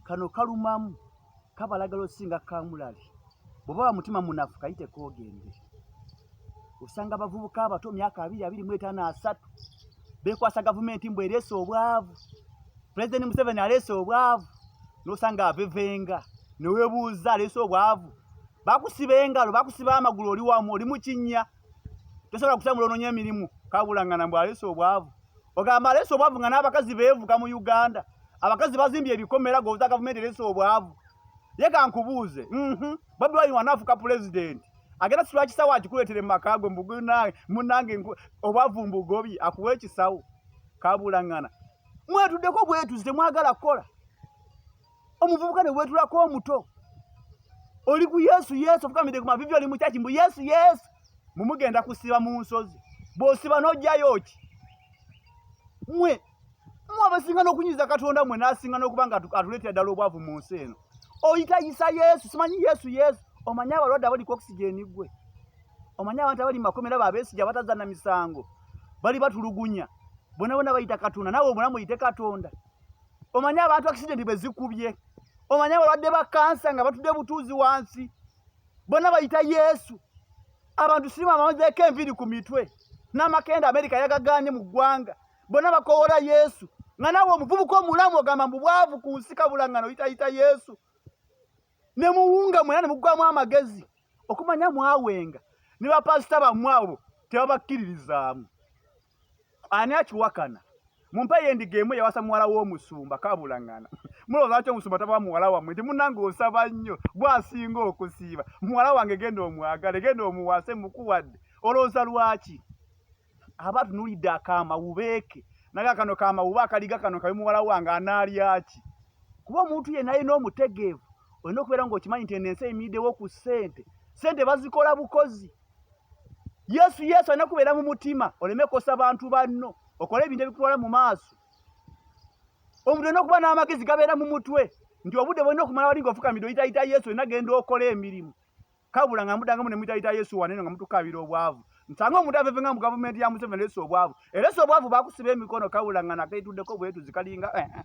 kano kalumamu kabalagala osinga kamulali bwoba wa mutima munafu kayite kogende osanga abavubuka abato myaka abiri abiri mu etaano asatu bekwasa gavumenti mbu ereese obwavu pulezidenti museveni aleese obwavu nosanga avevenga newebuuza aleese obwavu bakusiba engalo bakusiba amagulu oli wamu oli mukinnya tosobola kusangula ononya emirimu kabulangana mbu aleese obwavu ogamba aleese obwavu nga n'abakazi beevuga mu uganda abakazi bazimbye ebikomera goza gavumenti ereese obwavu ye kankubuuze mhm. bobi wine wanaafuka pulezidenti agenda situla kisawo akikuleetere mu maka gwe mbugunange munange obwavu mbugobi akuwa ekisawo kabulangana mwetuddeko bwetuzi temwagala kukola omuvubuka ne weetulako omuto oli ku yesu yesu ofukamidde ku mavivi oli mukyaki mbu yesu yesu mumugenda kusiba mu nsozi bw'osiba n'ojjayo ki mwe mwe abasinga n'okunyiza katonda mwe n'asinga n'okuba nga atuleetera ddala obwavu mu nsi eno oyitayisa yesu simanyi yesu yesu omanyi abalwadde abali ku okisijeni gwe omanyi abantu abali makomera babesija bataza na misango bali batulugunya bona bona bayita katunda nawe bona muyite katonda omanyi abantu akisidenti bwe zikubye omanyi abalwadde ba kansa nga batudde butuuzi wansi bonna bayita yesu abantu sirima bamazeeko enviiri ku mitwe n'amakenda amerika yagagaanye mu ggwanga bonna bakowola yesu nga nawe omuvubuka omulamu ogamba mbu bwavu ku nsi kabulangano yitayita yesu ne muwunga mwena ne muggwamu amagezi okumanya mwawenga ne bapasita bammwe abo tebabakkiririzaamu ani akiwakana mumpe yendiga emu yawasa muwala w'omusumba kabulangana mulowooza ki omusumba taba muwala wammwe nti munange osaba nnyo gwasinga okusiiba muwala wange genda omwagale genda omuwase mukuwadde olowooza lwaki aba atunulidde akamawubeeke naga kano kamawube akaliga kano kabe muwala wange anaalyaki kuba omuntu yenna alina omutegeevu olina okubeera ng'okimanyi nti eno ensi eyimiriddewo ku ssente ssente bazikola bukozi yesu yesu alina kubeera mu mutima oleme kosa bantu banno okole ebintu ebikutwala mu maaso omuntu olina okuba n'amagezi gabeera mu mutwe nti obudde bwolina okumala wali ng'ofukamidde oyitayita yesu olina genda okola emirimu kabula nga mudangamu ne muyitayita yesu waneno nga mutukaabira obwavu nsanga omuntu aveve nga mu gavumenti ya museveni lesa obwavu eresa obwavu bakusiba emikono kabula nga nakaituddeko bwetuzi kalinga eh, eh.